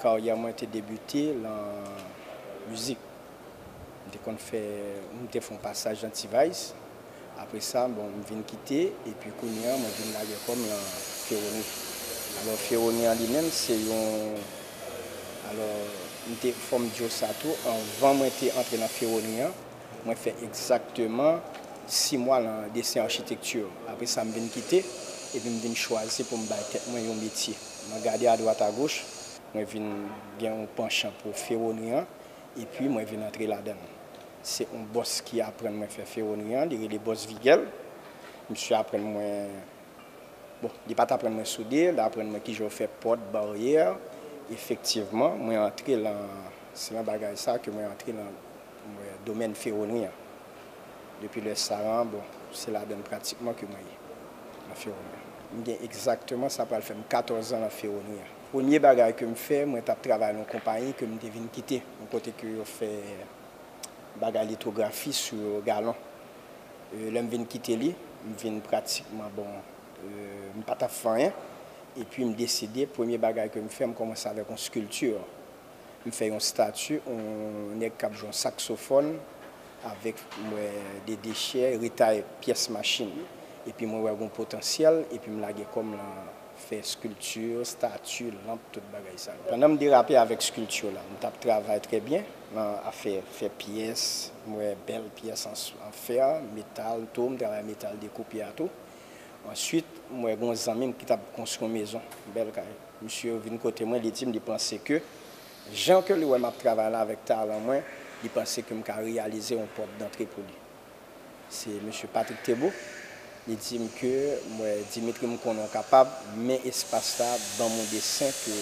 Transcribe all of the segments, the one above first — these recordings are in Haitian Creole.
Karyè mwen te debite lan mizik. M te konn fè, m te fè yon pasaj lan T-Vice. Apre sa, bon, m vin kite epi kounye an mwen vin lage kò m lan Feroni. Alò Feroni an li menm se yon, alò m te, fò m di w sa tou, anvan mwen te antre lan Feroni an, Mwen fè egzakteman si mwa lan desen achitekti, apre sa m vin kite epi m vin chwazi pou m bay tèt mwen yon metye. Mwen gade adwat agoch, mwen vin gen yon panchan pou fewonri an epi mwen vin antre ladan l. Se yon bòs ki aprann mwen fè fewonri an, li rele bòs Vigèl. Misye aprann mwen, bon, li pa t aprann mwen soude, li aprann mwen kijan yo fè pòt, baryè. Efektivman, mwen antre lan, se lan bagay sa a ke mwen antre lan. Domèn Ferronnerie an. Depi lè sa a, bon, se ladan l pratikman ke mwen ye, nan Ferronnerie an. M gen egzakteman, sa pral fè m katòzan nan Ferronnerie an. Premye bagay ke m fè, mwen t ap travay nan yon konpayi ke m te vin kite, yon kote ke yo fè bagay litografi sou galon. Lè m vin kite li, m vin pratikman, bon, m pa t ap fè anyen. Epi m deside, premye bagay ke m fè, m kòmanse avèk yon skilti. M fè yon stati on nèg kap jwe on saksofòn avèk m wè de dechè retay pyès machin epi mwen wè gon potansyèl epi m lage kò m lan fè skilti, stati, lanp tout bagay sa yo. Pandan m derape avèk skilti la m tap travay trè byen lan afè fè pyès m wè bèl pyès an fè, metal tou m travay metal dekoupe a tou Answit, m wè gen yon zanmi m ki t ap konstwi yon mezon, yon bèl kay. Misye vin kote mwen, li di m li panse ke jan ke li wè m ap travay la avèk talan mwen, li panse ke m ka reyalize yon pòt dantre pou li. Se Misye Patrick Thébault. Li di m ke, m wè Dimitri m konnen w kapab, men espas la ban m yon desen ke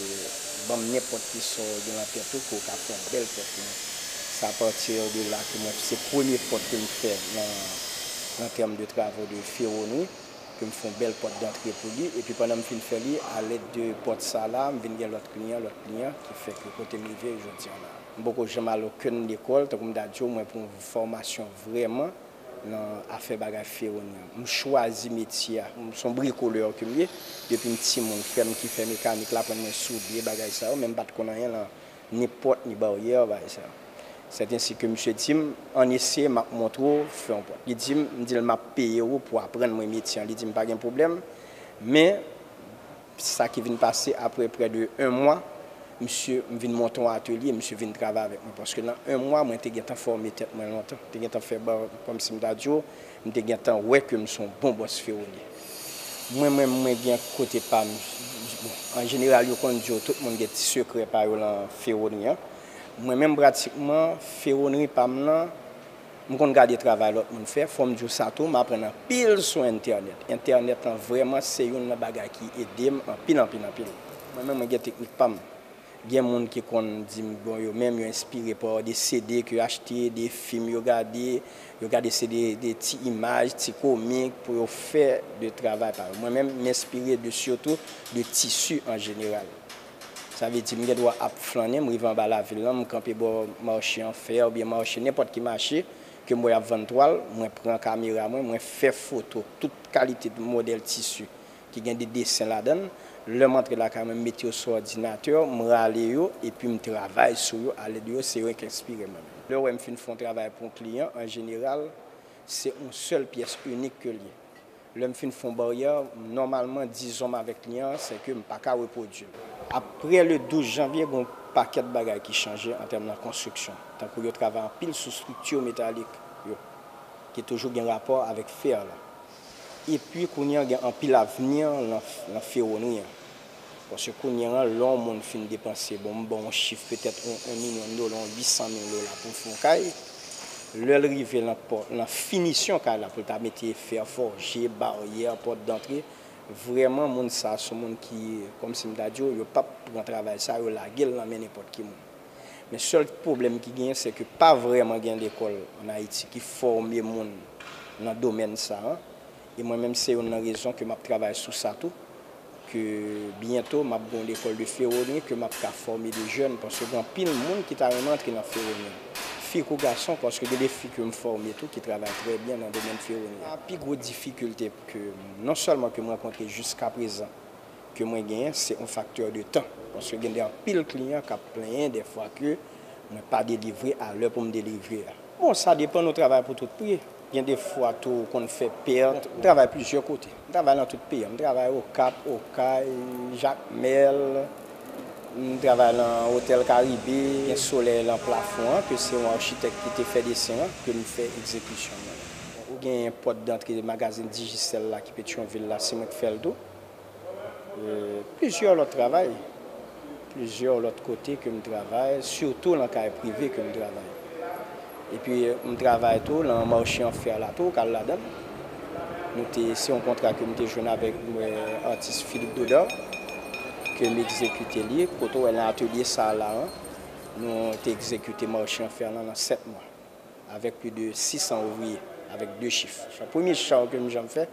ban m nenpòt ki sa w gen lan tèt ou ke w ka fè yon bèl pòt pou mwen. Se apati de la ke mwen, se premye pòt ke m fè lan. an tèm de travo de feronri ke m fè yon bèl pòt dantre pou li epi pandan m fin fè li alèd de pòt sa la m vin gen lòt kliyan lòt kliyan ki fè ke kote m rive jodi an la m poko janm al okenn lekòl tankou m ta di w mwen pran yon fòmasyon vrèman nan afè bagay feronri an m chwazi metye a m son bricoleur ke m ye depi m timoun frè m ki fè mekanik l aprann mwen soude bagay sa yo men m pa t konn anyen lan Ni pòt ni baryè bay sa. Sèt ensi ke misye di m, Ann eseye, m ap montre w, fè yon pòt. Li di m, m di l, M ap peye ou pou w aprann mwen metye an. Li di m, Pa gen pwoblèm. Men, sa ki vin pase apre prè de 1 mwa, misye, m vin monte yon atelye, misye vin travay avèk mwen. Paske nan 1 mwa, mwen te gentan fòme tèt mwen lontan. Te gentan fè, kòmsi m ta di w, M te gentan wè ke m s on bon bòs Féronie. Mwen menm mwen gen kote pa m bon an jeneral yo konn di w tout moun gen ti sekrè pa yo lan Féronie an. Mwen menm pratikman Féronie pa m lan m konn gade travay lòt moun fè. Fò m di w sa tou m aprann anpil sou entènèt. Entènèt lan vrèman se youn nan bagay ki ede m anpil anpil anpil. Mwen menm mwen gen teknik pa m. Gen moun ki konn di m bon yo menm yo enspire pa de CD ke yo achte, de fim yo gade, yo gade se de ti imaj, ti komik pou yo fè de travay pa yo. Mwen menm m enspire de sitou de tisi an jeneral. Sa vle di m gen dwa ap flannen, m rive anba lavil lan, m kanpe bò mache an fè oubyen mache nenpòt ki mache ke m wè y ap vann twal, mwen pran kamera mwen, mwen fè foto tout kalite modèl tisi. ki gen de desen ladan l, lè m antre lakay mwen m met yo sou òdinatè, m rale yo epi m travay sou yo alèd yo, se renk enspire mwen menm. Lè w wè m fin fè yon travay pou yon kliyan, an jeneral, se yon sèl pyès inik ke l ye. Lè m fin fè yon baryè, nòmalman dizon m avèk kliyan an se ke m pa ka repwodui l. Aprè le 12 janvye, gen yon pakèt bagay ki chanje an tèm nan konstriksyon, tankou yo travay anpil sou strikti metalik yo, ki toujou gen rapò avèk fè la. Epi kounye an gen anpil avni lan fewonri an. Paske kounye an lè yon moun fin depanse, bon m ban w yon chif petèt 1 milyon dola, 800 mil dola pou l fè yon kay, lè l rive lan finisyon kay la pou l ta mete fè fòje, baryè, pòt dantre, vrèman moun sa son moun ki, kòmsi m ta di w, yo pap pran travay sa, yo lage l lan men nenpòt ki moun. Men sèl pwoblèm ki genyen se ke pa vrèman gen lekòl an Ayiti ki fòme moun nan domèn sa a. E mwen menm se youn nan rezon ke m ap travay sou sa tou, ke byento m ap gen yon lekòl de feronye ke m ap ka fòme de jèn paske gen anpil moun ki ta renmen antre nan feronye a, fi kou gason paske gen de fi ke m fòme tou ki travay trè byen nan domèn feronye a. Pi gwo difikilte ke non sèlman ke m rankontre jiskaprezan, ke mwen genyen se yon faktè de tan paske gen de anpil kliyan kap plenyen de fwa ke mwen pa delivre a lè poum delivre a. Bon sa depan nou travay pou tout pri gen de fwa tou ou konn fè pèt m travay plizyè kote m travay lan tout peyi an m travay okap okay jakmèl m travay lan otèl karibe gen solèy lan plafon an ke se yon architèk ki te fè desen an ke m fè egzekisyon mwen ou genyen pòt dantre magazin digicel la ki petyonvil la se mwen k fèl tou. Plizyè lòt travay, plizyè lòt kote ke m travay, sitou lan kay prive ke m travay. Epi m travay tou lan marche an fer la tou, kal ladan l. Nou te, se yon kontra ke m te jwenn avèk atis Philippe Godard, ke m egzekite li, kote w wè lan atelye sa la an, nou te egzekite marche an fer lan lan 7 mwa. Avèk pli de 600 ouvriye, avèk 2 chif. Premye chaw ke m janm fè,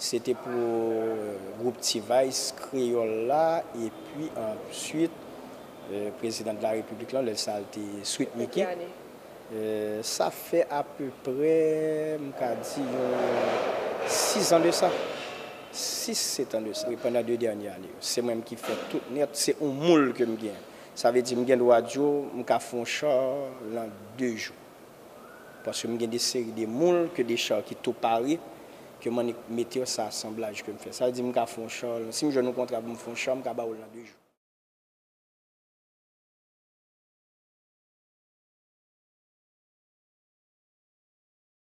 se te pou gwoup T-Vice Kreyòl la, epi answit Prezidan de la Repiblik lan, lè sa l te Sweet Micky. Sa fè apeprè, m ka di yon 6 an de sa, 6, 7 an de sa. Pandan 2 dènye ane yo, se mwen menm ki fè tout nèt, se yon moul ke m gen. Sa vle di m gen dwa di w m ka fè yon cha lan 2 jou. Paske m gen de seri de moul ke de cha ki tou pare, ke m annik mete yo sa asanblaj ke m fè. Sa vle di m ka fè yon cha lan, si m jwenn yon kontra pou m fè yon cha, m ka ba ou l lan 2 jou.